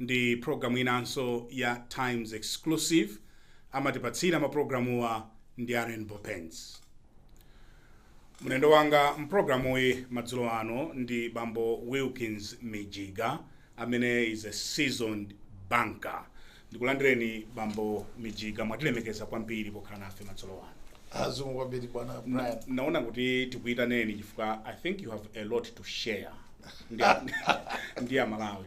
ndi program inanso ya Times Exclusive amatipatsira ma programuwa ndi a Rainbow Paints. Mlendo wanga mprogramuyi madzulo ano ndi bambo Wilkins Mijiga amene is a seasoned banker. Ndikulandireni bambo Mijiga, mwatilemekeza kwambiri pokhala nafe madzulo ano. Zikomo kwambiri bwana Na- Brian. naona kuti tikuitaneni chifukwa i think you have a lot to share ndi ndi a malawi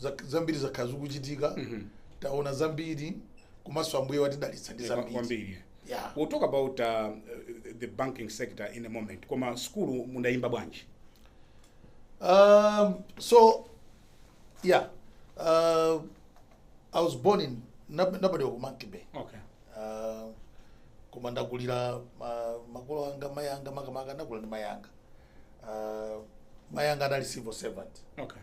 Zak- zambiri zakhala zikuchitika taona zambiri komanso ambuye watidalitsa ndi Yeah, kwa- zambiri kwambiri Yeah. we'll talk about uh, uh, the banking sector in a moment koma skulu mudayimba bwanji Um, so yeah uh, i was born in nab- nobody wa ku Monkey Bay okay uh, koma ndakulira ma, makolo anga mai anga makamaka ndakula ndi mai anga uh, mai anga anali civil servant okay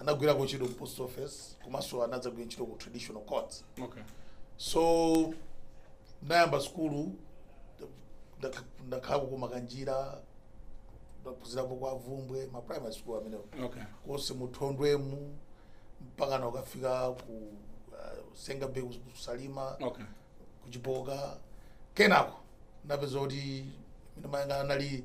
anagwirako ntchito ku post office komanso anadzagwira ntchito ku traditional courts okay so nayamba sukulu ndakha- ndakhalako ku Makanjira ndaphunzirako kwa Bvumbwe ma primary school amenewo okay konse mu Thondwemu mpaka nakafika ku uh, Senga Bay ku Salima okay ku Chipoka kenako napeza kuti mene mayanga anali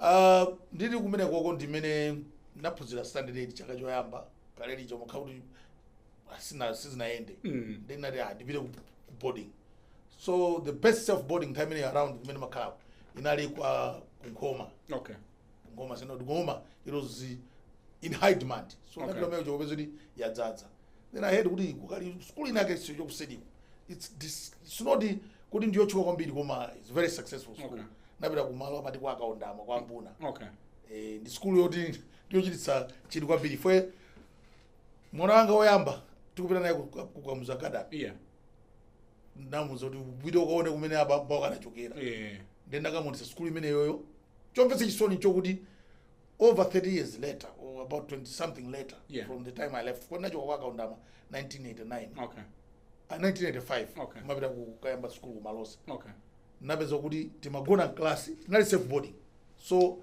Ah, ndili kumene koko ndimene naphunzira standard 8 chaka choyamba kalelicho nkuona kuti asina sizinayende Mm. nde ndinati ah ndipite ku ku boarding so the best self boarding nthawi imeneyo around kumene makhalako inali kwa ku Nkhoma okay Nkhoma Synod Nkhoma it was in high demand so Okay. okay. ndinakumana nacho chokupeza kuti yadzadza then i heard kuti kukali school ina yake siyo kuti it's dis- it's not the- kuti ndiyotchuka kwambiri koma it's very successful school Okay. napita kumalo amati kwa a Kaundama kwa Mbuna okay Eh, ndi sikulu yoti ndiyochititsa chidwi kwambiri ifwe mwana wanga woyamba tikupita naye ku- ku- kwa Mzuzu Academy yeah namuza kuti upite ukaone kumene abambo ako anachokera yeah nde ndakamuonetsa sikulu imeneyoyo chomvetsa chisoni chokuti over 30 years later or about 20 something later Yeah. from the time i left kuti nachoka kwa Kaundama 1989 okay Ah, 1985 Okay. mapita kukayamba sukulu ku Malosa okay napeza kuti timagona mklasi tinali self boarding so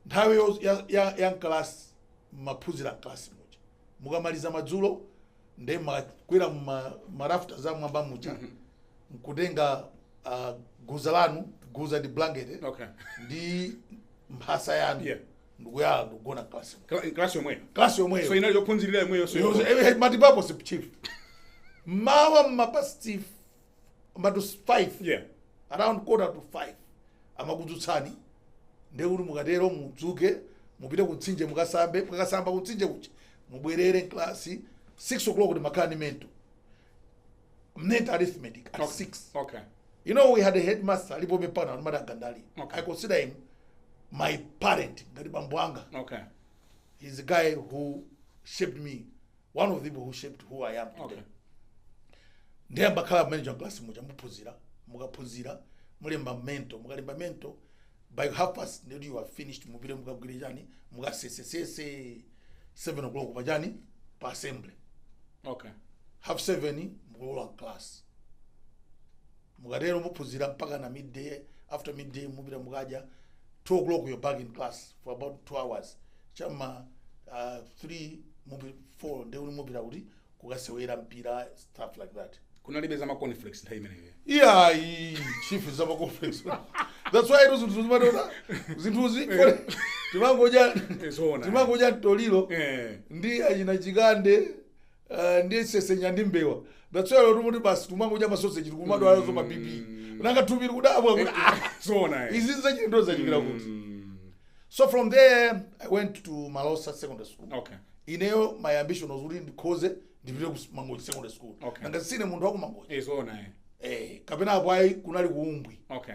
nthawi yo- ya- ya- ya mklasi maphunzira mklasi muja mukamaliza madzulo nde mumakwera mma marafta za mwamba muja nkutenga ah, guza lanu guza ndi blanket eh, Okay. ndi mphasa yanu Yeah. ndikuyala ndikugona klasi Kla- Class yomweyo. klasi So yomweyo inali yophunzirira yomweyo so. It was- eh, eh, multipurpose chief mawa mma past five komatu 5 Yeah. around quarter to 5 amakudzutsani ndiye kuti mukatero mudzuke mupite ku mtsinje mukasambe mukakasamba ku mtsinje kuja mubwerere mklasi 6 o'clock kuti makhala ndi mental mental arithmetic at 6 Okay. you know we had a headmaster alipo pano amati a Gandali Okay. i consider him my parent ngati bambo anga Okay. he's a guy who shaped me one of the people who shaped who i am today Okay. ndiye mumakhala manager class muja muphunzira mukaphunzira mulemba mental mukalemba mental by half past ndiye kuti you are finished mupite mukagwire chani mukasesesese 7 o'clock pa chani pa assembly okay half 7 mukulowa mklasi Mukatero muphunzira mpakana midday, after midday mupita mukadya, 2 o'clock you're back in class for about 2 hours, cha m'ma ah, 3 mupi, 4 ndiye kuti mupita kuti kukasewera mpira stuff like that. kunalibe za ma cornflakes nthawi imeneyo iyayi chief za ma cornflakes that's why ito zinthu zimatota zinthuzi timangodya zoona. timangodya mtoliro eh ndi achina chikande Eh, ndi sesenya ndi mbewa that's why timati basi timangodya masoseji tikumadwala za ma BP nanga thupi likudabwa kuti ah, zona eh. izi nzachilendo zachokera kuti Mm, so from there i went to malosa secondary school okay ineyo my ambition was kuti ndikhoze ndipite ku mangochi secondary school Okay. nanga sine munthu wakumangochi Eh, zona eh. eh, kapena apo ayi kunali ku Umbwi okay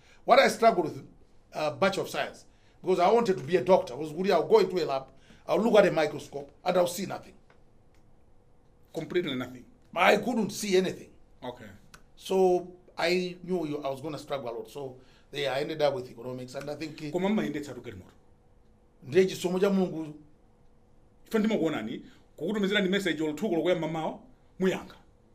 what i struggle with uh, bachelor of science because i wanted to be a doctor was kuti i'll go into a lab i'll look at a microscope and i'll see nothing Completely nothing. i couldn't see anything Okay. so i knew you, i was going to struggle a lot so there i ended up with economics and i think eh, Koma mmayendetsa tukali moto. ndiye chisomo cha mulungu Ife ndimakuonani kukutumizirani message olo thuko lokuya mamawa muyankha.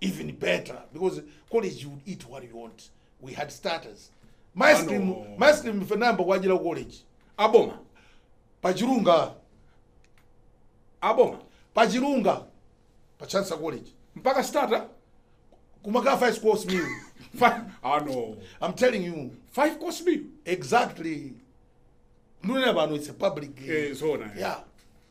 even better because college you would eat what you want we had starters my Ano. scream my scream fenamba kwajira ku college aboma pachirunga aboma pachirunga pa chansa college mpaka starter kumaka five course meal Fi- ano i'm telling you five course meal exactly ndunena pano it's a public eh, zona eh. yeah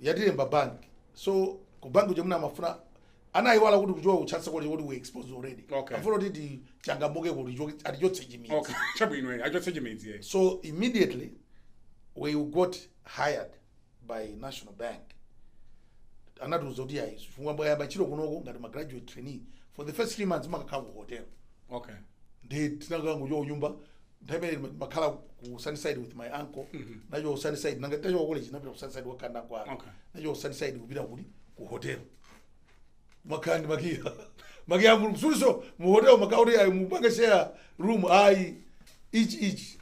yatilemba bank so ku bank kuja mwina amafuna anayiwala kuti kuchoka ku chancellor college kuti we were exposed already Okay. afuna kuti tichangamuke kuti cho- atichotse chimidzi okay chabwino eh, achotse chimidzi eh. so immediately we got hired by national bank anatiuza kuti ayi chifukwa mwayamba ntchito kunoko ngati ma graduate trainee for the first three months mukakhala ku hotel okay ndiye tinakangochoka kunyumba nthawi imene ndima- ndimakhala ku sunnyside with my uncle nachoka ku sunnyside nanga tachoka ku college napita ku sunnyside kwa kanda kwa Okay. nachoka ku sunnyside kupita kuti ku hotel makhala ndi makiya makiya a mulungu suliso mu hotel makhala kuti ayi mupange share room ayi ichi ichi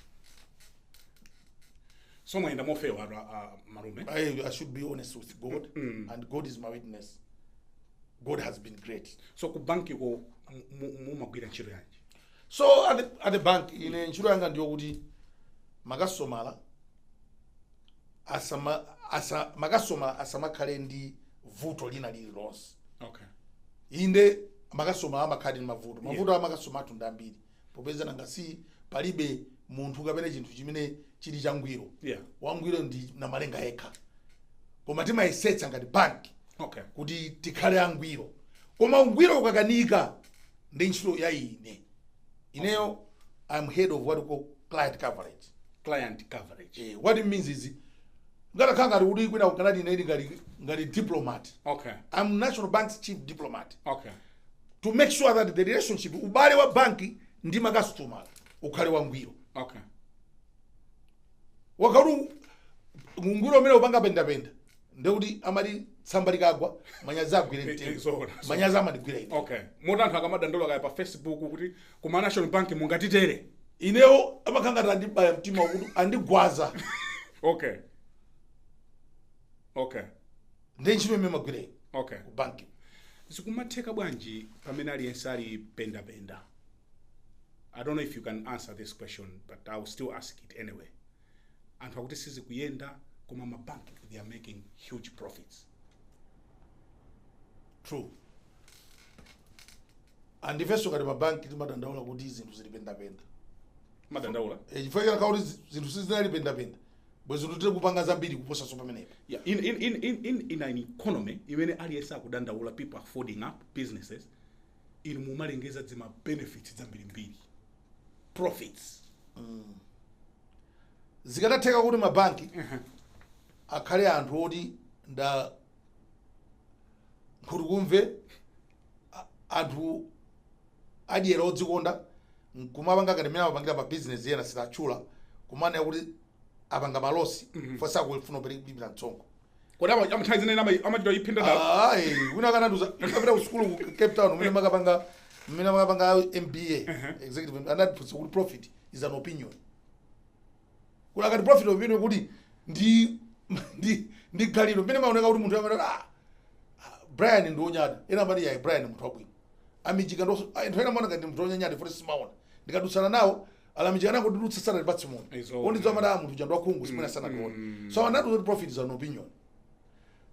so mwayenda mofewatu a- a- malume I, I should be honest with God, and God is my witness. God has been great. so ku bankiko mu- mu- mumagwira ntchito yanji so at the, at the bank ine ntchito yanga ndiyo kuti makastomala asama asa makastomala asamakhale ndi vuto lina lililonse okay inde makastomala amakhaladi ndi mavuto mavuto yeah. a makastomala athu ndi ambiri popeza nanga si palibe munthu kapena chinthu chimene chili changwiro Yeah. wangwiro ndi namalenga yekha koma timayesetsa ngati banki okay kuti tikhale angwiro koma ungwiro ukakanika ndi ntchito ya ine ineyo i'm head of what we call client coverage client coverage eh, what it means is ngatakhala ngati kuti kwina kukanati ine ili ngati ngati diplomat okay i'm national bank's chief diplomat okay to make sure that the relationship ubale wa banki ndi makasitomala ukhale wangwiro okay ukakhala kuti ungwiro umene upanga pendapenda ndekuti amati tsamba likagwa manyazi agwire Eh, eh, mtengo zoona, zoona. manyazi amandigwira ine okay moti anthu akamadandaula kaya pa facebook kuti kuma national bank mungatitere inewo amakhala ngati andibaya mtima wakuti andigwaza okay okay ndi ntchito imene magwira ine okay ku banki zikumatheka bwanji pamene aliyense ali pendapenda i don't know if you can answer this question but i will still ask it anyway anthu akuti sizikuyenda koma ma bank they are making huge profits true and ifenso ngati mabanki timadandaula kuti zinthu zili pendapenda mumadandaula Eh, chifukwa chakhala kuti zi- zinthu sizinali pendapenda bwezi tiri kupanga zambiri kuposanso pamenepa yeah, in, in, in, in, in, in an economy imene aliyense akudandaula people are folding up businesses inu mumalengeza dzima benefits dzambirimbiri profits zikadatheka kuti mabanki akhale anthu oti nda nkhutukumve a- anthu adyera odzikonda nkumapanga ngati mmene amapangira pa bizinesi ena sitatchula kumanena kuti apanga ma loss fo sakufuna kulipira msonkho kodi ama- ama- nthawi zina ama- amachita iphinda dala ayi wina anandiuza ndikapita ku sukulu ku cape town umene makapanga mmene makapanga mba executive MBA, anatiphunzitsa kuti profit is an opinion kuti akati profit opinion kuti ndi ndi ndi ganizo mmene maoneka kuti munthu amati ah ah, brian ndi wonyada ena amati yayi brian munthu wabwino amichika ndonso ayi nthawi ina maoneka ndi munthu wonyanyada foti simaona ndikadutsana nawo alamiji anangodutsa sanatipatse munthu It's all ondidziwa right. madamu tuja ndwakhungu simene sanationa mm. so anati kuti profit is an opinion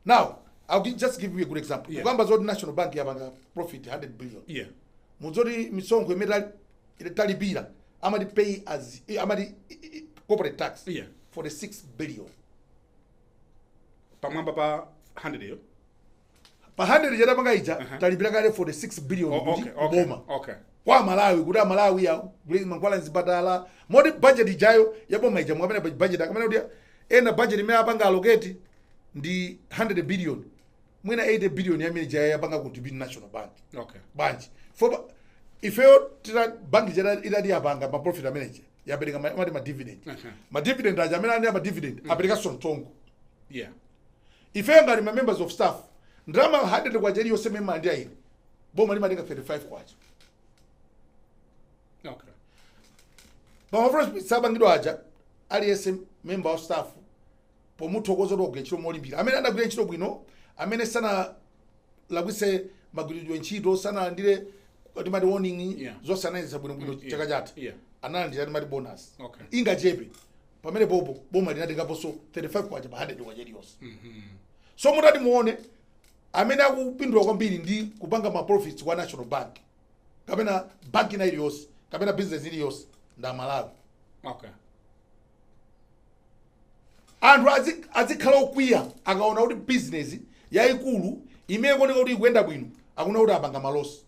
now i'll gi- just give you a good example Yeah. kukamba zoti national bank yapanga profit 100 billion yeah mudzoti misonkho imene tali- ine talipira amati pay as eh, amati eh, eh, corporate tax Yeah. 46 billion pamwamba pa 100 iyo pa 100 ija tapanga ija talipira kale 46 billion oh, kuti okay, okay, boma okay. kwa amalawi kuti amalawi agule mankhwala mzipatala moti budget ijayo ya boma ija mukamanena budget akamanena kuti ena budget imene apanga allocate ndi 100 billion mwina 80 billion yamene ija yapanga contribute national bank okay bwanji foba ifeyo tira banki ija ikati yapanga ma profit manager yapereka ma- amati ma dividend Aha. ma dividend aja amene anena ma dividend aperekanso msonkho yeah ifeyo ngati ma members of staff ndalama 100 kwacha iliyonse mema ndi aine boma limatenga 35 kwacha okay pamafuna sabangidwa aja aliyense member of staff pomuthokoza kuti wagwira ntchito molimbika amene adagwira ntchito bwino amene sanalakwitse magwiridwe ntchito sanalandire timati warning Yeah. zonse anayendetsa bwinobwino Mm, yeah, chaka chatha yeah. analandira timati bonus Okay. ingachepe pamenepo boma linatengaponso 35 kwacha pa 100 kwacha iliyonse so mutati muone amene akupindula kwambiri ndi kupanga ma profits kwa national bank kapena bank ina iliyonse kapena business iliyonse ndi aMalawi okay anthu azi- azikhala okwiya akaona kuti bizinesi yayikulu imene ikuoneka kuti ikuyenda bwino akunena kuti apanga malosi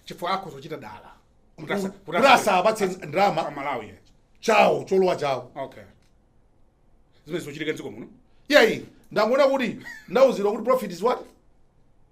chifukwa akuzichita dala Kuti asa- kuti kuti asa- asapatse asa- ndalama. kwa aMalawi yes. chawo cholowa chawo okay zimene zikuchitika mdziko muno iyayi ndangoona kuti ndauzidwa kuti profit is what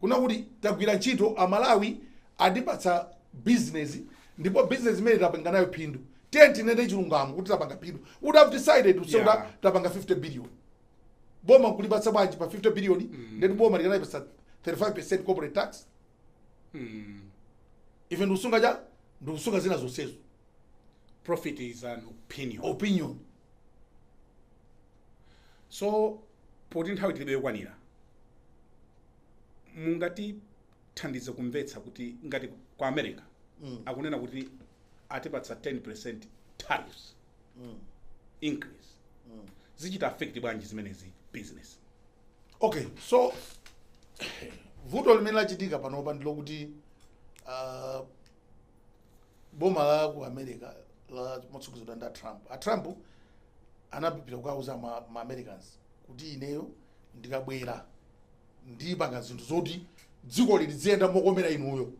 Kunena kuti tagwira ntchito, Amalawi atipatsa bizinezi ndipo bizinezi imeneyi tapanga nayo phindu. Tiyeni tinene chilungamo kuti tapanga phindu. We would have decided to say yeah. kuti tapanga 50 billion. Boma nkulipatsa zingati pa 50 billion mm. ndekuti boma tikanalipatsa 35% corporate tax. Mm. Ife ndikusunga chani ndikusunga zina zonsezo. Profit is an opinion. Opinion. so poti nthawi tilibe yokwanira mungatithandize kumvetsa kuti ngati ku america Mm. akunena kuti atipatsa 10 percent tariffs Mm. increase Mm. zichita affect bwanji zimenezi business okay so vuto limene lachitika panopa ndilokuti uh, boma la ku america lomwe likutsogozedwa ndi a trump a trump anapita kukauza ma, ma americans kuti ineyo ndikabwera ndipanga zinthu zoti dziko ili liziyenda mokomera inuyo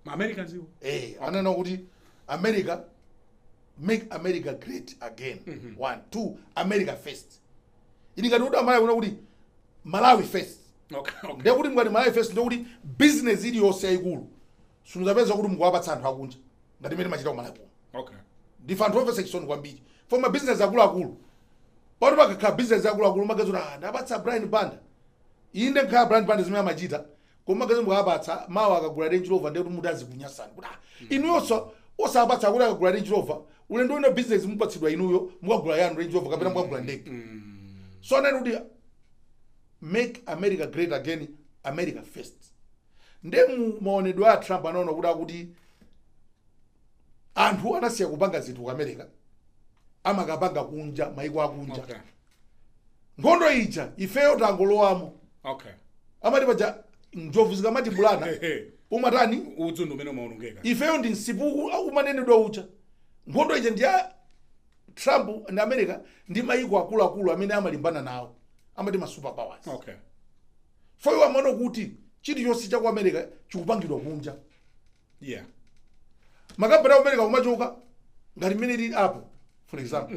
ma americans iwo eh ananena kuti america make america great again one two america first ili ngati kuti amalawi kunena kuti malawi first okay okay ndekuti ngati malawi first ndekuti business iliyonse yayikulu simudzapeza kuti mukuwapatsa anthu akunja ngati mmene timachita kumalawi kuno okay ndife anthu omvetsa chisoni kwambiri fukwa ma business akuluakulu pano pakakhala business akuluakulu mumadziwa kuti ah ndapatsa brian banda inde nkhala brian banda zimene amachita koma mumadziwa mukapatsa mawa akagula range rover ndekuti mudzazikunyasani kuti ah inuyonso osapatsa kuti akagula range rover ulendo wina business mupatsidwa inuyo mukagula yanu range rover kapena mukagula ndege so ananena kuti make america great again america first nde mu maonedwe a trump anaona kuti akuti anthu anasiya kupanga zinthu ku america amakapanga kunja maiko akunja okay nkhondo ija ifeyo tangolowamo okay amati paja njovu zikamatibulana umatani udzu ndi umene umaonongeka ifeyo ndi msipu umanenedwa uja nkhondo ija ndi ya trump ndi america ndi maiko akuluakulu amene amalimbana nawo amati ma superpowers okay fo iwo amaona kuti chilichonse cha ku america chikupangidwa kunja yeah makampani aku america kumachoka ngati mmene ilili apple for example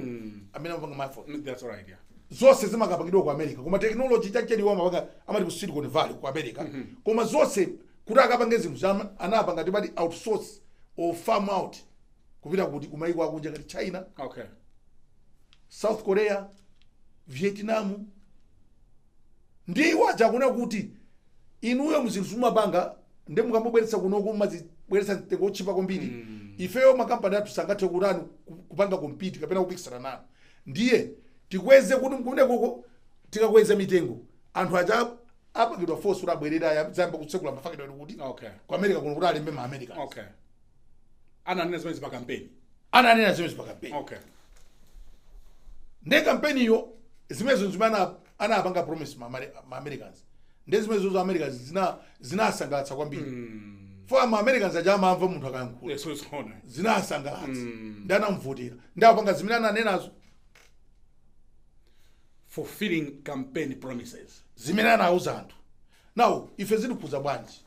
amene amapanga mafoni Mm, that's all right yeah zonse zimakapangidwa ku america koma technology yakeyo iwo amapanga kumati ku silicon valley ku america koma zonse kuti akapange zinthu zama- anapanga amati outsource or farm out kupita kuti kumayiko akunja ngati china okay south korea vietnam Ndiye iwo aja akunena kuti inuyo zinthu mumapanga ndiye mukamubweretsa kunoko mumazibweretsa mtengo wotchipa kwambiri ifeyo makampani athu sangathe kutani ku- kupanga compete kapena kupikisana nanu ndiye tikweze kuti kumenekoko tikakweza mitengo anthu aja apangidwa force kuti abwerere azayambe kutsekula mafakitale kuti Okay. ku america kuno kuti alembe ma america Okay. ananena zimenezi pa kampeni ananena zimenezo pa kampeni okay nde kampeniyo zimenezo zimene ana- anapanga promise ma Ameri- ma americans nde zimenezo za americans zina zinasangalatsa kwambiri fo ma americans aja amamva munthu akayankhula yes it's on zinasangalatsa ndi anamuvotera nde apanga zimene ananenazo fulfilling campaign promises zimene anauza anthu now ife zitikhuza bwanji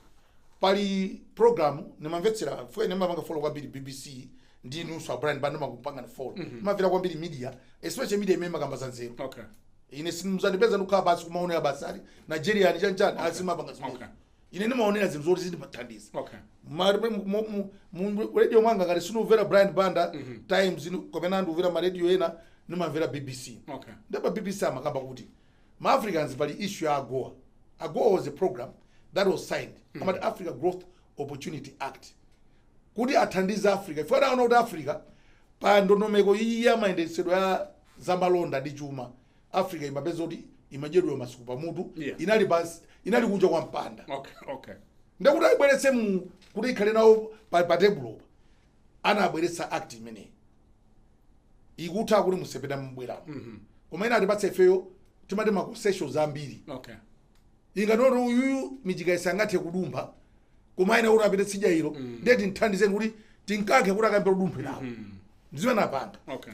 Pali program nimamvetsera chifukwa ine ndimapanga follow kwambiri BBC ndi inunso a Brian Banda ndimakupangani follow. Ndimamvera kwambiri media, especially media imene imakamba za nzeru. Okay. Ine simuzandipeza ndikukhala basi kumaonera basi za Nigeria ni chanchani ayi sindimapanga zimenezo. Okay. Ine ndimaonera zinthu zoti zizindithandiza. Okay. Ma- mu- mu- mu- mu radio mwanga ngati sindikumvera Brian Banda Times ni- kapena ndikumvera ma radio ena nimamvera BBC. Okay. Nde pa BBC amakamba kuti ma Africans pali issue ya AGOA, AGOA was a program that was signed amati Africa Growth Opportunity Act kuti athandize Africa chifukwa anaona kuti Africa pa ndondomeko iyi ya mayendetsedwe ya zamalonda ndi chuma Africa imapeza kuti imadyedwa masuku pamutu Yeah. inali pansi inali kunja kwa mpanda okay okay nde kuti ayibweretse mu kuti ikhale nawo pa, pa tebulopa anabweretsa act imeneyi ikutha kuti musepera mubweramo mhm. koma ina atipatse ifeyo timaticoncessions ambiri okay. kungoti uyuyu michika isangathe kudumpha koma ina kuti apite tsidya ilo mm. ndiye tinthandizeni kuti tinkankhe kuti akambe kudumpha nawo mm. zimene anapanga okay.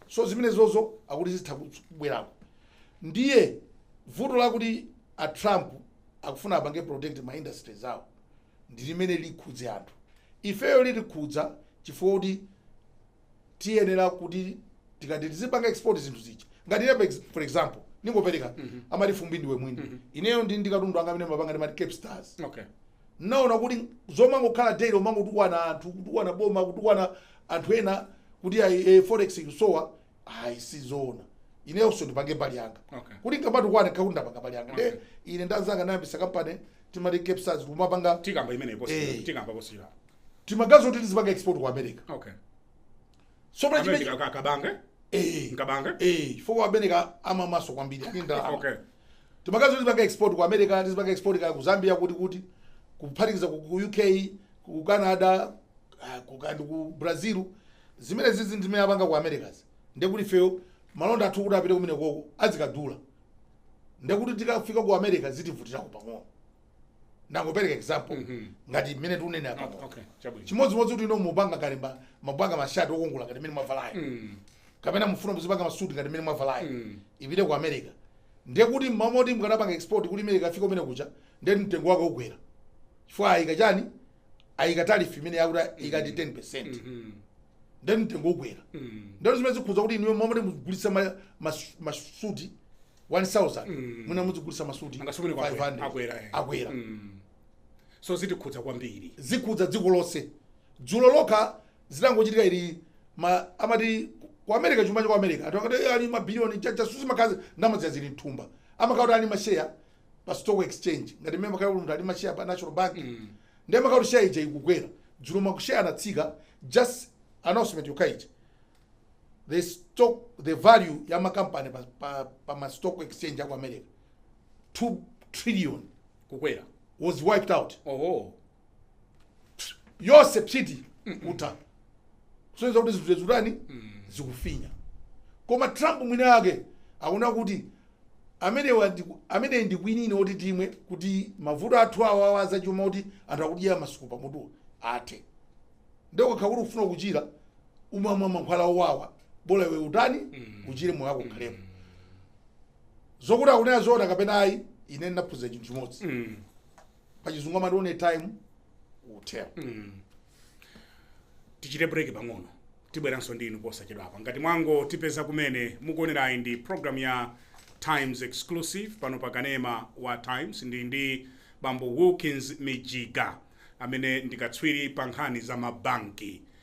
so zimene zozo akuti zitha kubwerako ndiye vuto lakuti a trump akufuna apange protect ma industries awo ndi limene likhudze anthu. Ifeyo litikhudza chifukwa kuti tiyenera kuti tikati tizipanga export zinthu zija. Ngati ine pex- for example, ndingopereka amati fumbi ndiwe mwini. Ineyo ndi ndi katundu wanga amene mapangati ndimati Cape Stars. Okay. Naona kuti zomangokhala daily umangotukwana anthu, kutukwana boma, kutukwana anthu ena kuti ayi eh, forex ikusowa ayi sizoona inenso ndipange mbali yanga Okay. kuti nkamatukwana nkhale kuti ndapanga mbali yanga Okay. nde ine ndi anzanga ndayambisa kampani timati cape stars kumapanga tikamba imene iposi Eh. tikamba posira timaganiza kuti tizipanga export ku america okay so pali amene chimene kabange eh nkabange eh chifukwa america amamwaso kwambiri ali ndalama okay timaganiza kuti tizipanga export ku america tizipanga export ka ku zambia kuti kuti kuphatikiza ku ku uk ku canada ah, ku- kaya ndi ku brazil zimene izizi ndi zimene apanga ku americas ndekuti ifeyo malonda athu kuti apite kumene koko azikadula ndekuti tikafika ku america zitivutirako pang'ono ndangopereka example ngati mmene tinenera apa Okay, okay, chabwino. chimodzimodzi kuti inu mupanga kalimba mapanga mashati okongola ngati mmene mwavalayo Mm, kapena mufuna muzipanga masuti ngati mmene mwavalayo Mm. ipite ku america ndekuti mmomwe mukanapanga export kuti imene ikafika kumene kuja ndekuti mtengo wake ukwera chifukwa ayika chani ayika tarifu imene yakuti ikati 10 percent Mhm. ndekuti mtengo ukwera Mhm. ndeno zimene zikhuza kuti inuyo momwe mugulitsa ma- mas- masuti 1000 Mm. mwina muzigulitsa masuti angati mwina 500 akwera eh. akwera Mm. so zitikhudza kwambiri zikhudza dziko lonse dzulo lokha zitangochitika ili ma- amati ku america chuma cha ku america anthu akati "Eh, ali mabiliyoni chanichani sizimakhala ndalamazo zili mthumba amakhala kuti ali masheya pa stock exchange ngati mmene makhala munthu ali mashare pa national bank ndiye amakhala kuti share ija ikukwera dzulo mashare anatsika just announcement yokha ija the stock the value ya makampani pa, pa, pa ma stock exchange aku america 2 trillion kukwera wiped out oho Psi, yonse psiti kutha soneza kuti zinthu zitani zikufinya koma trump mwini ake akunena kuti amenewa ndi- ameneyi ndi kwinini oti timwe kuti mavuto athu awa awa azachuma kuti anthu akudya masuku pamutu athe nde kakhala kuti ukufuna kuchira umamwa mankhwala owawa bola iwe utani uchire moyo wako ukhalepo zokuti akunena zoona kapena ayi ine ndinaphunzira chinthu chimodzi pachizungu amati one time utero tichite break pang'ono tibweranso ndi inu posachedwapa ngati mwango tipeza kumene mukuonerayi ndi program ya times exclusive pano pa kanema wa times ndili ndi bambo wilkins mijiga amene ndi katswiri pa nkhani za mabanki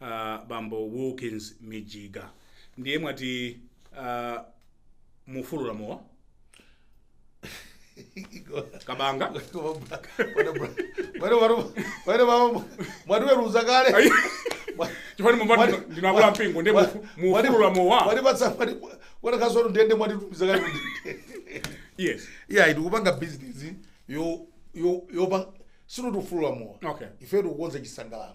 a bambo Wilkins Mijiga ndiye mwati a mufulula mowa kabanga mwatiweruza kale chifukwa ndi mumati Mwati- ndinu akulu a mpingo ndiye mufu- mufulula mowa watakhasono ndende mwatitumiza kale kundende yes iya tikupanga business yo yo yopanga sikuti tikufulula mowa Okay. ife tikukonza chisangalalo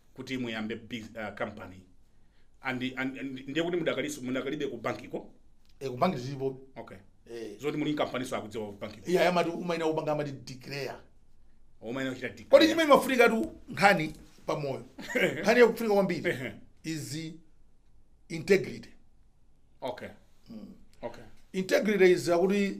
kuti muyambe biz- ah, company and, and, and ndiye kuti mudakalinso mudakalibebe ku bankiko e kubanki ndilipo okay e zoti muli n'kampaninso akudziwa ku bankiko iye amati umayenera kupanga amati declare umayenera kuchita declare. kodi chimene chimafunikatu nkhani pa moyo nkhani yakufunika kwambiri Ehe. is integrity okay okay integrity is akuti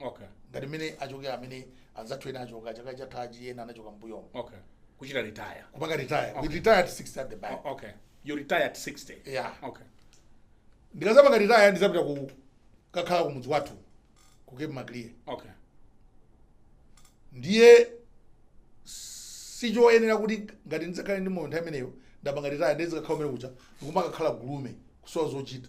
okay ngati mmene achokera kumene anzathu ena achoka chaka chathachi ena anachoka mbuyomo okay kuchita retire kupanga retire we retire at 60 at the bank O- okay you retire at 60 Yeah. okay ndikadzapanga retire ndidzapita kukakhala ku mudzi wathu ku cape maclear okay ndiye sichoyenera kuti ngati ndidzakhale ndi moyo nthawi imeneyo ndapanga retire ndizikakhala kumene kucha n'kumakakhala gulume kusowa zochita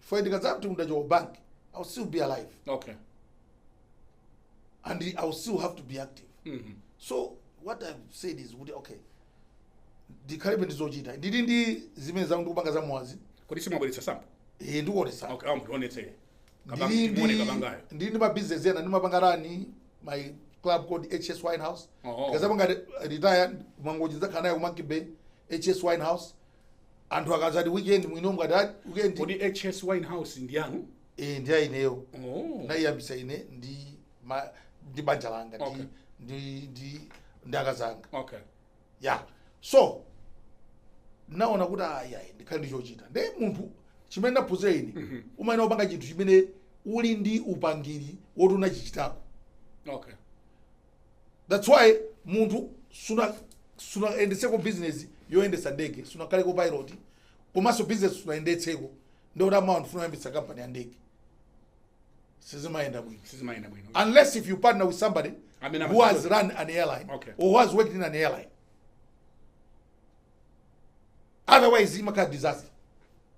chifukwa ndikadzati ndachoka ku bank i will still be alive okay and i will still have to be active Mhm. so what i've said is kuti okay ndikhalebe ndi zochita ndili ndi zimene zanga ndikupanga za mwazi kodi simunabweretse sampo ee ndikuonetsa okay awo mutionetsere timuone kabangayo ndili ndi mabizinesi ena ndimapanga run my club called hs wine house Oh, oh. ndikadzapanga retire Mangochi ndidzakhala nayo ku monkey bay hs wine house anthu akadzati weekend mwino mukati "Ah, weekend kodi hs wine house ndi yanu eh, ndi yaineyo oh. ndinaiyambitsa ine ndi ma, ndi banja langa Okay. ndi, ndi, ndi, ndi akazi anga okay ya so ndinaona kuti ayayi ndikhale ndi chochita ndiye munthu chimene ndaphunzira ine umayenera kupanga chinthu chimene uli ndi upangiri woti unachichitako okay That's why munthu suna sunayendetseko business yoyendetsa ndege sunakhaleko pilot komanso business sunayendetseko ndikuti mawa ndifuna kuyambitsa kampani ya ndege sizimayenda bwino sizimayenda bwino unless if you partner with somebody Amene who has amadziwa. run an airline Okay. or who has worked in an airline otherwise imakhala disaster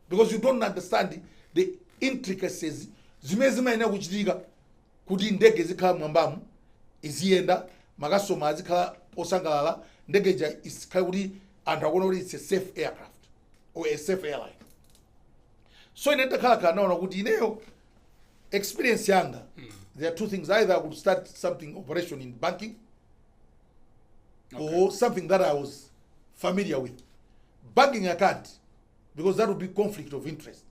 because you don't understand the intricacies zimene zimayenera kuchitika kuti ndege izikhala m'mwambamu, iziyenda, makasitoma azikhala osangalala, ndege ija ikhale kuti anthu akuona kuti it's a safe aircraft or a safe airline. So ine nditakhalakhala naona kuti ineyo experience yanga there are two things either I could start something operation in banking or something that I was familiar with. Banking I can't. because that would be conflict of interest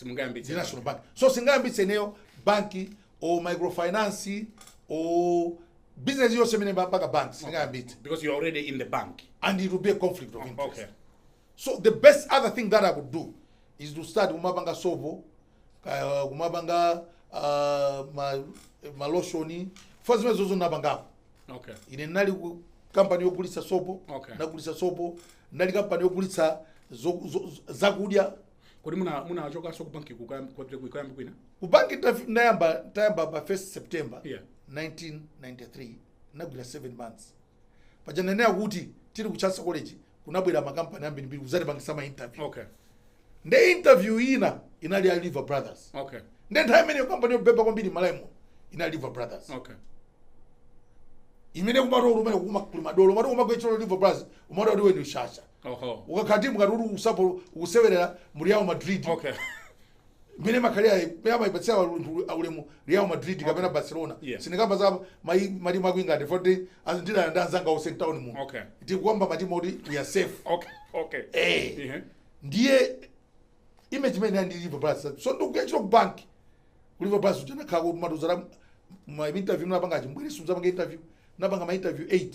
ndi National Bank so sindingayambitse ineyo banki or microfinance or business yonse imene imapanga bank sindingayambitse because you're already in the bank and it will be a conflict of interest okay so the best other thing that I would do is to start kumapanga sopo kaya kumapanga ah, ma maloshoni fa zimenezozo ndinapangako okay ine ndinali kampani yogulitsa sopo Okay. ndagulitsa sopo ndinali kampani yogulitsa zo- zo- zo- zakudya kodi muna- munachokanso ku banki kukayamba kwina? Ku banki ndaf- ndayamba nditayamba pa 1 september Yeah. 1993 ndagwira 7 months paja ndinanena kuti tili ku Chancellor College kunabwera makampani ambirimbiri kuzatipangisa ma interview okay nde interview ina inali ya Lever Brothers okay nde nthawi imeneyo kampani yobeba kwambiri m'Malawimo inali Lever Brothers okay imene kumati umene kuma- kuli madolo umati kumagwira ntchito ku Lever Brothers umati kuti ndiwe ndiwe shasha oho ukakhala timu ngati kuti usapo ukusewerera mu Real Madrid okay mene imakhalira mene amayipatsira ulemu ulemu real madrid kapena barcelona Yeah. sindikamba za mayi- matimu aku England poti ndidana ndi anzanga onse mtown muno Okay. ndikukamba matimu oti we are safe okay okay Eh. Ehe. ndiye image imeneyo ndi Lever Brothers so ndikuyambira ku bank ku Lever Brothers kuja anakhala kuti amatiuza ma interview ndinapanga ambiri sindizapanga interview ndinapanga ma interview 8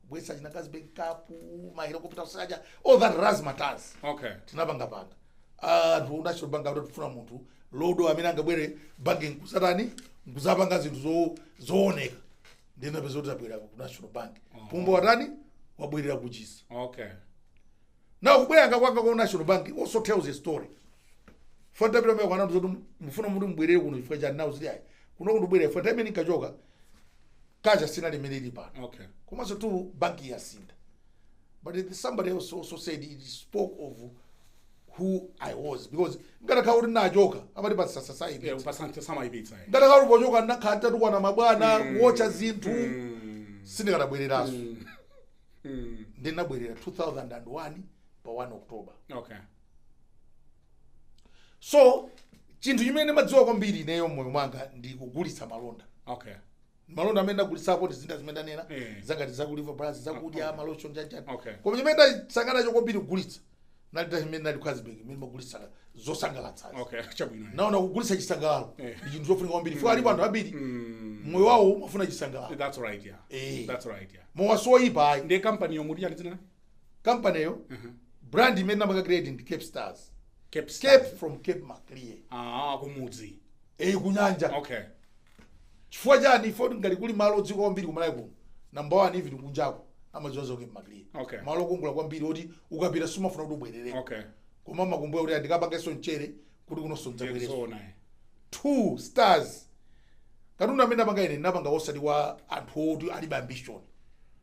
kubweza chinangazi backup mahelikopita kusaka all that razzmatazz okay tinapangapanga anthu uh, national bank akuti tikufuna munthu dolo amene angabwere banki nkuzatani nkuzapanga zinthu zo- zooneka ndinapeza kuti ndabwera ku national bank pumba watani wabwerera kuchisi okay now kubwereranso kwanga ku national bank also tells a story fantapita meko anatu zoti mufuna muti mubwerere kuno chifukwa chani nawonso ali ayi kuno kundibwerera pa time ndinkachoka kaja sinali mmene ilili pano okay komanso tu banki yasintha but it- somebody else also said it spoke of who i was because ndikanakhala kuti ndinachoka amati pa society yeah posambira samayipitsa eh ndikadakhala kuti pochoka ndinakhala nditatukwana mabwana kuotcha zinthu sindikadabwereranso mm ndinabwerera 2001 pa 1 october okay so chinthu chimene ndimadziwa kwambiri ineyo mmoyo mwanga ndi kugulitsa malonda okay malonda amene ndagulitsapo ndi zinthu zimene ndanena Eh. za ngati za ku Lever Bros zakudya Okay. malotion chanchani Okay. koma chimene ndasangalala nacho kwambiri kugulitsa nalita chimene ndali Carlsberg imene imagulitsa zosangalatsa okay chabwino naona kugulitsa chisangalalo Eh. ndi chinthu chofunika kwambiri chifukwa alipo anthu ambiri Mm, moyo wawo umafuna chisangalalo that's right yeah Eh. that's right yeah mowa soyipa ayi ndiye kampaniyo muti chani dzina kampaniyo brand imene napanga create ndi cape stars Cape Star. cape from cape maclear Ah, kumudzi. eyi kunyanja Okay. chifukwa chani chifukwa ngati kuli malo odziwika kwambiri ku Malawi kuno namba one even kunjako amadziwa za cape maclear Okay. malo okongola kwambiri oti ukapita sumafuna kuti ubwerereko Okay. koma umakumbuka kuti ah ndikapangenso mchere kuti kunonso ndidzabwerenso Zoona. eh. two stars katundu amene apanga ine napanga osati wa anthu oti alibe ambition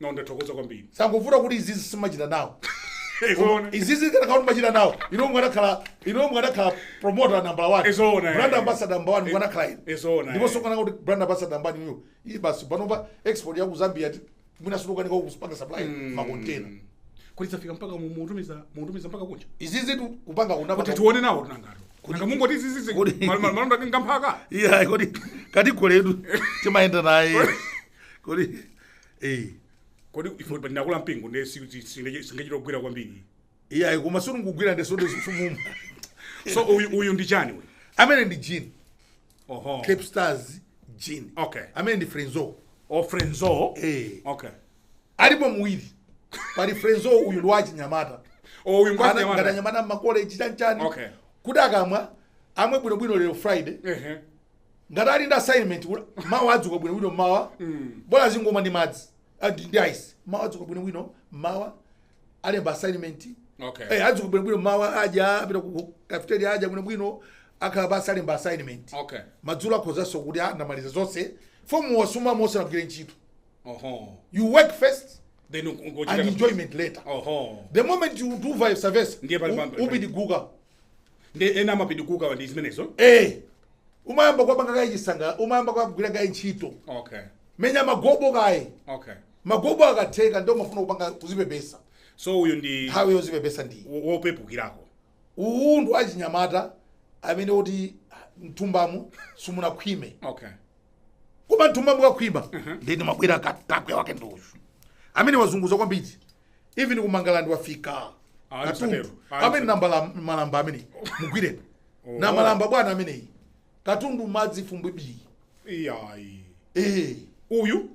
no ndathokoza kwambiri zangovuta kuti izizi sindimachita nawo Eh zoona. izizi mukanakhala kuti mumachita nawo inu mukanakhala inu mukanakhala promoter number 1 Eh zoona, eh. brand ambassador number 1 mukanakhala inu Eh zoona, ndipo eh. sokana kuti brand ambassador number 1 iyi basi panopa export ya ku Zambia ti mwina sulukani kwa kupanga supply ma container kuti zafika mpaka mu- mutumiza mutumiza mpaka kunja izizitu kupanga kunapa kuti tione nawotu nangatu nanga mungoti izizi Kodi- malonda ngamphaka iya kodi kati goledu timayenda naye kodi eh kodi ife pa ndi akulu a mpingo ndiye sitingachite kugwira kwambiri iye ayi koma sunu kugwira ndi sodo simumwa so uyu uyu ndi chani uyu amene ndi gin oho cape stars gin Okay. amene ndi frenzo o frenzo Eh. okay alipo mawiri pali frenzo uyu ndi wachinyamata o uyu ngati ngwanyamata anyamata mmakoleji chanchani Okay. kuti akamwa amwe bwinobwino lero friday ehe ngati ali ndi assignment ula- mawa adzuka bwinobwino mmawa bola azingomwa ndi madzi ah, ndi ndi ice mawa adzuka bwinobwino mmawa alemba assignment Okay. Eh, adzuka bwinobwino mmawa aja apita ku cafeteria aja bwinobwino akhala basi alemba assignment Okay. madzulo akhozanso kuti ah ndamaliza zonse chifukwa mowa sumamwa usanagwire ntchito Oho. you work first Then u- u- uchita- and enjoyment later Oho. the moment you do vice versa Ndiye pali u- pampa- upidiguka Ndi ena amapidiguka ndi zimenezo. eh umayamba kuwapanga kaye chisangala umayamba kuwagwira kaye ntchito okay menya magobo kaye okay magobo akatheka ndiye umafuna kupanga kuzipepesa so uyu ndi nthawi yozipepesa ndiyi wo- wopepukirako uyu ndi wa achinyamata amene kuti mthumbamo simunakhwime okay koma mthumbamo mukakhwima ndiye ndimabwera katakwe wake ndi uyu amene wazunguza kwambiri even ku Mangalande wafika Ah, katundu msatero. Ah, amene msatero. nambala malamba amene mugwireni Oh. namalamba bwana ameneyi katundu madzi fumbwe bii iyayi eh. uyu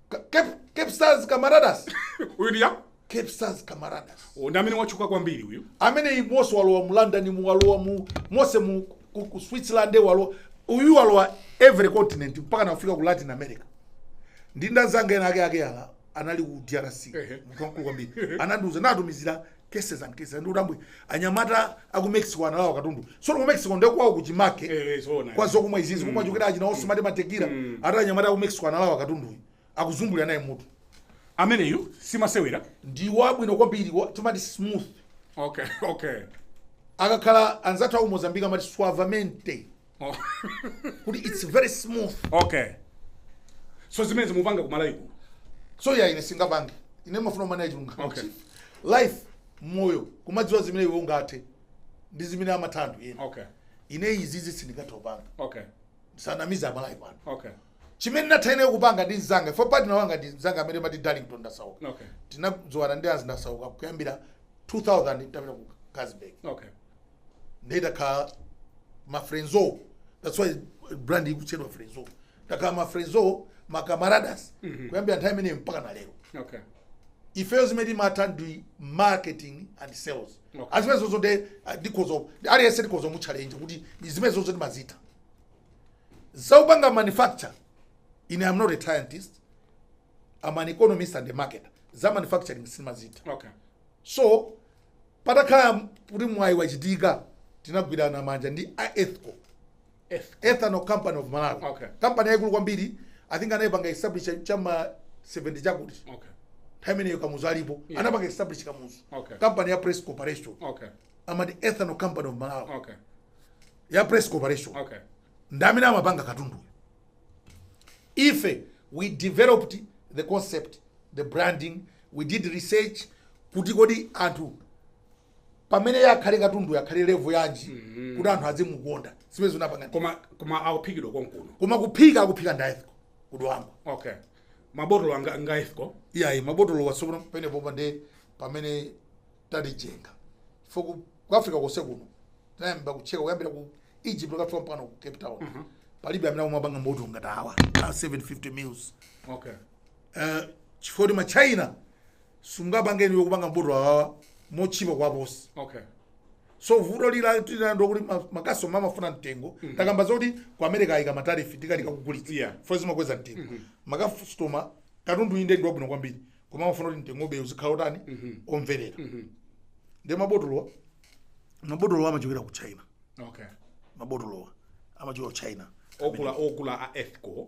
Ka- Cape, Cape Stars Camaradas uyu ndiye Cape Stars Camaradas Oh, ndi amene watchuka kwambiri uyu ameneyi monse walowa mu london mu walowa mu monse mu ku, ku switzerland walowa uyu walowa every continent mpaka nakufika ku latin america ndi anzanga ena ake ake ala anali ku drc Ehe. munthu wamkulu kwambiri anandiuza natumizira cases and cases ndikuti ambuye anyamata aku mexico analawa katundu sono ku mexico ndekwawo kuchimake Eh, eh, zoona. kwa zokumwa izizi kumwa kochokera achina onse amati matekira ati anyamata aku mexico analawa katunduyi akuzungulira naye mutu ameneyu simasewera ndi wabwino kwambiri wa- timati smooth okay okay akakhala anzathu aku mozambique amati suavemente Oh. kuti its very smooth okay so zimene mukupanga kumalawi kuno so ya ine sindingapange ine ndimafuna umene achilungamo Okay. life moyo kumadziwa zimene iwe ungathe ndi zimene amatha anthu ena okay ine izizi sindingathe kupanga okay ndisanamize amalawi pano okay chimene ndimatha ine kupanga ndi mzanga fo partner wanga ndi mzanga amene amati darlington ndasauka okay tinadziwana ndi azi ndasauka kuyambira 2000 tapita ku carlsberg okay ndiye takhala ma frenzo that's why brand ikutchedwa frenzo takhala ma frenzo ma camaradas kuyambira nthawi imeneyo mpaka na lero okay ifeyo zimene timatha ndi marketing and sales Okay. zimene zonso nde ah, ndikhoza aliyense ndikhoza kumutchalenja kuti ndi zimene zonso ndimazitha zakupanga manufacture ine am not a scientist am an economist and a marketer za manufacturing sindimazitha okay so patakhala kuti mwayi wachitika tinagwirana manja ndi a ethco ethanol company of malawi Okay. kampani yayikulu kwambiri i think anayipanga establish chama 70 chakuti okay nthawi imeneyo kamuzu alipo Yeah. anapanga establish kamuzu Okay. kampani ya press corporation okay amati ethanol company of malawi okay ya press corporation okay ndi amene amapanga katundu ife we developed the concept the branding We did research kuti kodi anthu pamene iye akhale katunduyo akhale level yanji kuti anthu azimukonda zimene tinapanga ndi- koma koma akuphikidwa konkuno koma kuphika akuphika ndi a ethco kudwangwa okay mabotolo anga nga ethco iyayi mabotolo iwo tsopano penepo nde pamene tikuchenjera fo ku ku africa konse kuno tinayamba kucheka kuyambira ku egypt kukafika mpaka ku cape town palibe amene akumapanga mabotolo ngati awa a 750 mils okay Eh chifukwa kuti ma China simungapange inuyo kupanga mabotolo awawa motchipa kuwaposa okay so vuto lija tili nalo kuti ma- makasitoma amafuna mtengo takamba zoti ku america ayika matarifi tikanika kugulitsa Yeah. fo zimakweza mtengo makasitoma katundu inde ndi wabwino kwambiri koma amafuna kuti mtengobe uzikhala wotani omverera ndi mabotolowa mabotolowa amachokera ku china okay mabotolowa amachokera ku china okula okula a ethco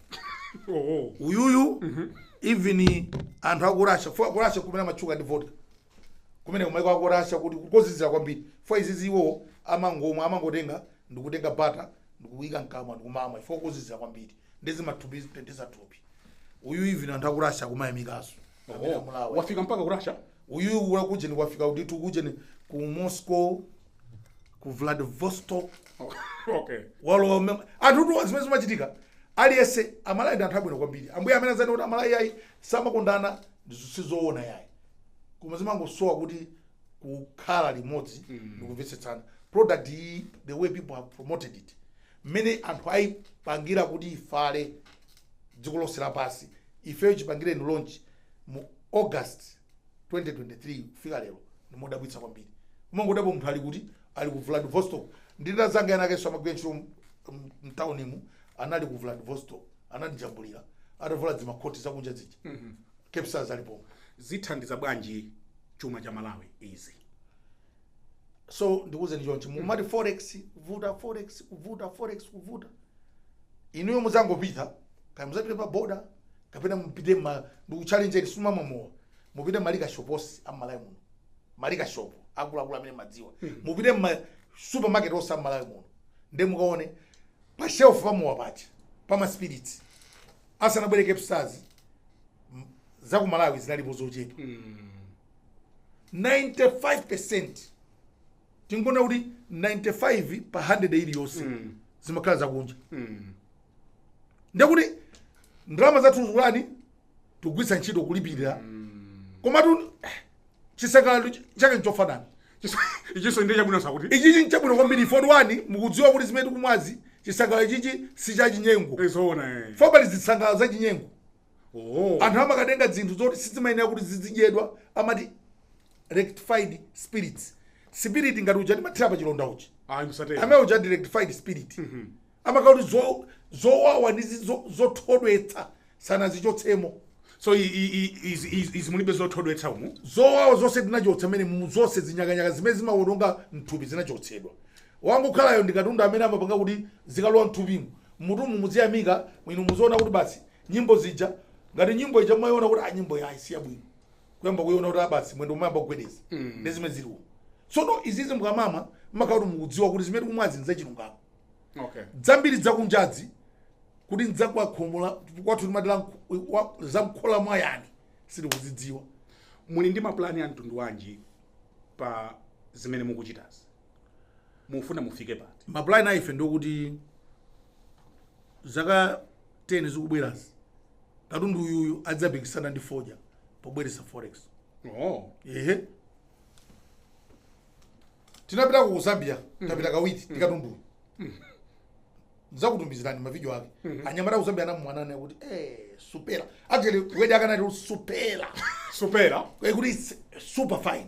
oho uyuyu even anthu aku russia fo aku russia kumene amatchuka ndi vodka kumene kumaiko aku russia kuti kozizira kwambiri fo izizi iwo amangomwa amangotenga ndikutenga bata ndikuyika mkamwa ndikumamwa ifo kozizira kwambiri nde zimathupi zitenthetsa thupi uyu even anthu aku russia kumayamikaso amene amulawa wafika mpaka ku russia uyu wakujeni wafika ndithu kujeni ku moscow ku vladivostok okay walowa mmene anthu tuwa zimene zimachitika aliyense amalawi ndi anthu abwino kwambiri ambuye amene azanene kuti amalawi ayi samakondana sizoona yayi koma zimangosowa kuti kukhala limodzi ndikumvetsetsana product iyi the way people have promoted it mmene anthu ayipangira kuti ifale dziko lonse lapansi ifeyo chipangireni launch mu august 2023 kufika lero ndi modabwitsa kwambiri umangodabwa munthu ali kuti ali ku vladivostok ndili ndi anzanga ena akenso amagwira ntchito m- m- mtaunimu anali ku vladivostok anandijambulira atavula dzimakhoti zakunja zija cape stars alipo zithandiza bwanji chuma cha malawi izi so ndikuwuzeni chonchi mukumati forex kuvuta forex kuvuta forex kuvuta inuyo mudzangopita kaya mudzapite pa boda kapena mupite ma ndikuchallenjeni sumamwa mowa mupite ma liquor shop onse am'malawi muno ma liquor shop akuluakulu amene mumadziwa mupite ma supermarket onse am'malawi muno nde mukaone pa shelf pamowa paja pama spirits asanabwere cape stars za ku malawi zinalipo zochepa 95% tingonena kuti 95 pa 100 iliyonse mm. zimakhala zakunja mm. ndekuti ndalama zathu zikutani tikugwiritsa ntchito kulipirira mm. komatu eh, chisangalalo ch- chake nchofanana ichiso ndi chabwino sakuti ichichi nchabwino kwambiri ifoti one mukudziwa kuti zimene tikumwazi chisangalalo ichichi si cha chinyengo nzoona eh. fo pali zisangalalo za chinyengo Oh. anthu amakatenga zinthu zoti sizimayenera kuti zidzidyedwa amati rectified spirits spirit ngati uja timathira pa chilonda uja Ayi musatero. amene uja ndi rectified spirit amakhala kuti zo- zowawa ndi zi- zo- zothodwetsa sanazichotsemo So i- i- i- izi izi- izi mulibe zothodwetsa umu. zowawa zonse tinachotsa mmenemu zonse zinyakanyaka zimene zimawononga mthupi zinachotsedwa Wangokhalayo ndi katundu amene amapanga kuti zikalowa mthupimu, mmutumu muziyamika, inu muziona kuti basi nyimbo zija, ngati nyimbo ija mumaiona kuti ah nyimboyi ayi si yabwino, kuyamba kuiona kuti ah basi mwendo umayamba kugwedeza. Ndi zimene zili umu. Tsono izizi mukamamwa mumakhala kuti mukudziwa kuti zimene tikumwazi n'zachilungamo. Okay. Zambiri zakunjazi kuti n'za kwa khomo la kwathu timati la mkhu- wa- za mkhola mwa yani sitikuzidziwa. Muli ndi mapulani a mtundu wanji pa zimene mukuchitazi? mufuna mufike pati ma plan aife ndokuti zaka 10 zikubwerazi katundu uyuyu adzapikisana ndi fodya pobweretsa forex oh. ehe tinapita ku zambia tapita kawiri ndi katunduyu ndizakutumizirani mavidiyo ake anyamata ku zambia anamwana kuti eh, supera actually wedi akanati kuti supera supera Eh, kuti it's super fine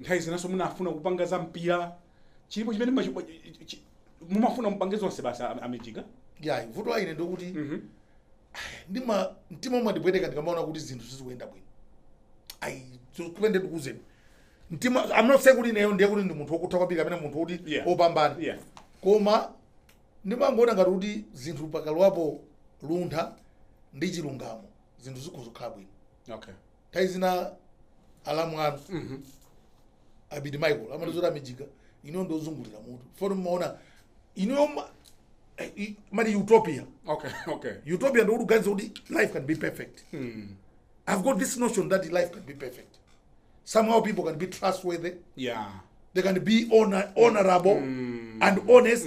Nthawi zinanso munafuna kupanga za mpira chilipo chimene mumachipa- chi- chi- mumafuna mupange zonse basi am- a mijiga yayi vuto la ine ndikuti Mhm. ndima mtima umandipweteka ndikamaona kuti zinthu sizikuyenda bwino ayi kupente ndikuuzeni mtima i'm not saying kuti ineyo ndiye kuti ndi munthu wokutha kwambiri kapena munthu woti Yeah. wopambana Yeah. koma ndimangoona ngati kuti zinthu pakalowapo luntha ndi chilungamo zinthu zikhoza kukhala bwino okay nthawi zina alamu anu abiti michael amatizoti amijika ino ndiozungulira mutu foti mumaona ino mali utopia okay okay utopia ndikuti uganiza kuti life can be perfect i've got this notion that life can be perfect somehow people can be trustworthy yeah they can be honor, honorable and honest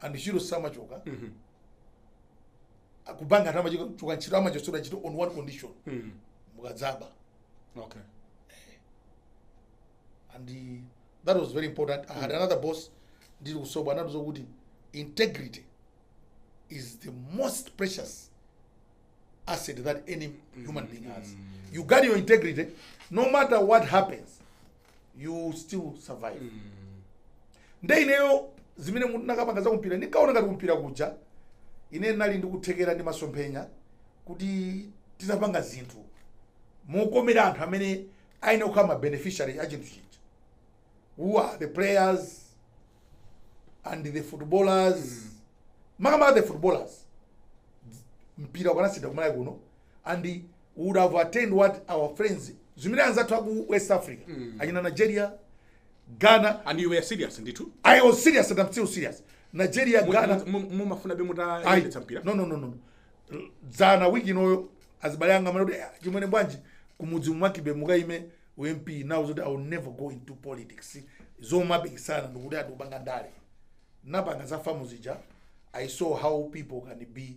and ntchito samachoka kubanki anthu amachoka ntchito amachotsedwa ntchito on one condition Mm. mukadzaba Okay. and uh, that was very important i had another boss ndiri kusobo anatiuza kuti integrity is the most precious asset that any human being has you guard your integrity no matter what happens you still survive nde ineyo zimene ndinakapanga za kumpira ndinkaona ngati kumpira kuja ine ndinali ndikuthekera ndi masomphenya kuti titapanga zinthu mokomera anthu amene ayenera kukhala ma beneficiary a chinthu chija who are the players and the footballers makamaka the footballers mpira ukanasintha ku malawi kuno and we would have attained what our friends zimene anzathu aku west africa achina nigeria ghana and you were serious ndithu i was serious and i'm still serious nigeria Mu- ghana mu- mu- mumafuna be Ayi. mutayendetsa mpira no no no no dzana wiki inoyo azibale anga amati kuti "Ah, chimwene bwanji kumudzi mukaime u mp now zoti i will never go into politics zomapikisana ndikuti ati kupanga ndale nditapanga za fam zija i saw how people can be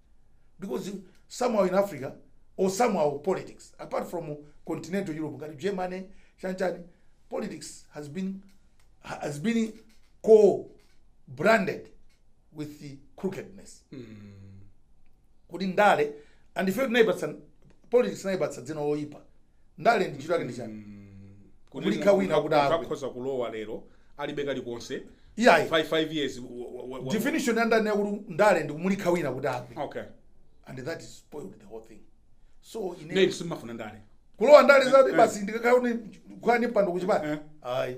because somehow in africa or somehow politics apart from continental europe ngati germany chanchani politics has been co-branded with the crookedness kuti ndale and ife tinaipatsa politics tinaipatsa dzina loyipa ndale ndi ntchito yake ndi chani Kuti kumulikha munthu wina kuti agwe akhoza kulowa lero alibe kalikonse iyayi 5 5 years wa- wa- wa- wa- definition ya ndale yakuti ndale ndi kumulikha wina kuti agwe okay and that is spoiled the whole thing so inenso simafuna ndale kulowa ndale zati Eh, eh. basi ndikakhala kuti kukwani mpando kuchipani Eh. ayi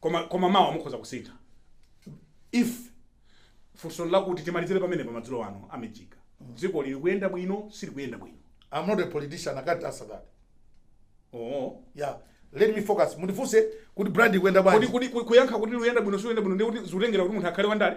Koma, koma mawa mukhoza kusintha. If funso ndi lakuti timalizire pamenepa madzulo ano a Mijiga. Dzikoli likuyenda bwino, silikuyenda bwino. I'm not a politician, I can't answer that. Oh. Yeah. Let me focus. Mundifunse kuti brand ikuyenda Kodi bwanji? kodi ku- kuyankha kuti likuyenda bwino silikuyenda bwino ndiye kuti zikutengera kuti munthu akhale wandale?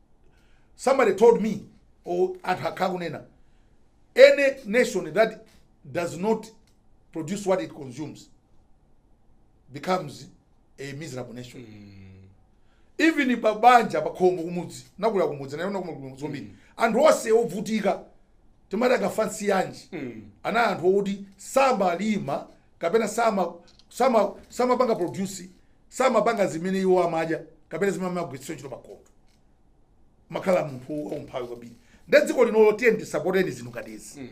somebody told me or anthu akhala kunena any nation that does not produce what it consumes becomes a miserable nation even pa banja pa khomo kumudzi nakula kumudzi naona kumudzi zombiri anthu onse ovutika timati akafansiyanji ana anthu oti samalima kapena sama sama samapanga produce samapanga zimene iwo amadya kapena zimene amagwiritsa ntchito pakhomo amakhala munthu waumphawi kwambiri nde dziko linolo tiyeni tisapote zinthu ngati izi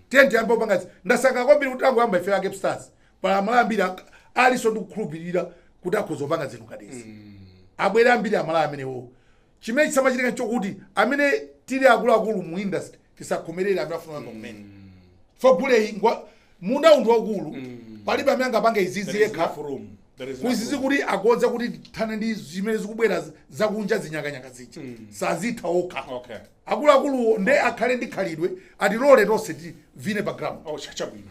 tiyeni tiyambe kupanga izi ndasangalala kwambiri kuti tangoyamba ife a kickstart pali amalawi ambiri ak- alinso ndi kukhulupirira kuti akhoza kupanga zinthu ngati izi abwere ambiri amalawi amenewo chimene chisamachitike chokuti amene tili akuluakulu mu industry tisakhomerere amene afuna kuyamba kumene chifa guleyu ngwa- mundawu ndi waukulu palibe amene angapange izizi There is yekha enough room. There is enough kuzizi room. kuti akhoza kuti tithane ndi zimene zikubwera z- zakunja zinyakanyaka zija sazitha okha Okay. akuluakuluwo nde akhale ndi khalidwe atilole tonse tivine pa ground Oh, cha- chabwino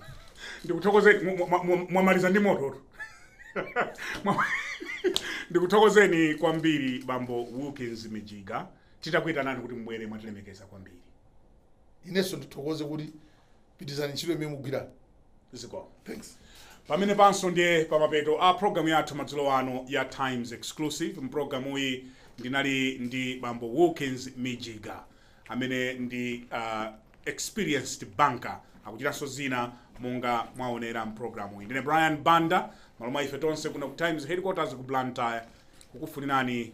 ndikuthokozeni mu- mu- mu- mwamaliza ndi moto Mwa- ndikuthokozeni kwambiri bambo wilkins mijiga titakuitanani kuti mubwere mwatilemekeza kwambiri inenso ndithokoze kuti pitirizani ntchito imene mugwira zikomo thanks pamenepanso ndiye pamapeto a programu yathu madzulo ano ya times exclusive mpulogalamuyi ndinali ndi bambo wilkins mijiga amene ndi uh, experienced banker akuchitanso zina monga mwaonera mpulogalamuyi ndine brian banda m'malo mwa ife tonse kuno ku times headquarters ku blantyre kukufunirani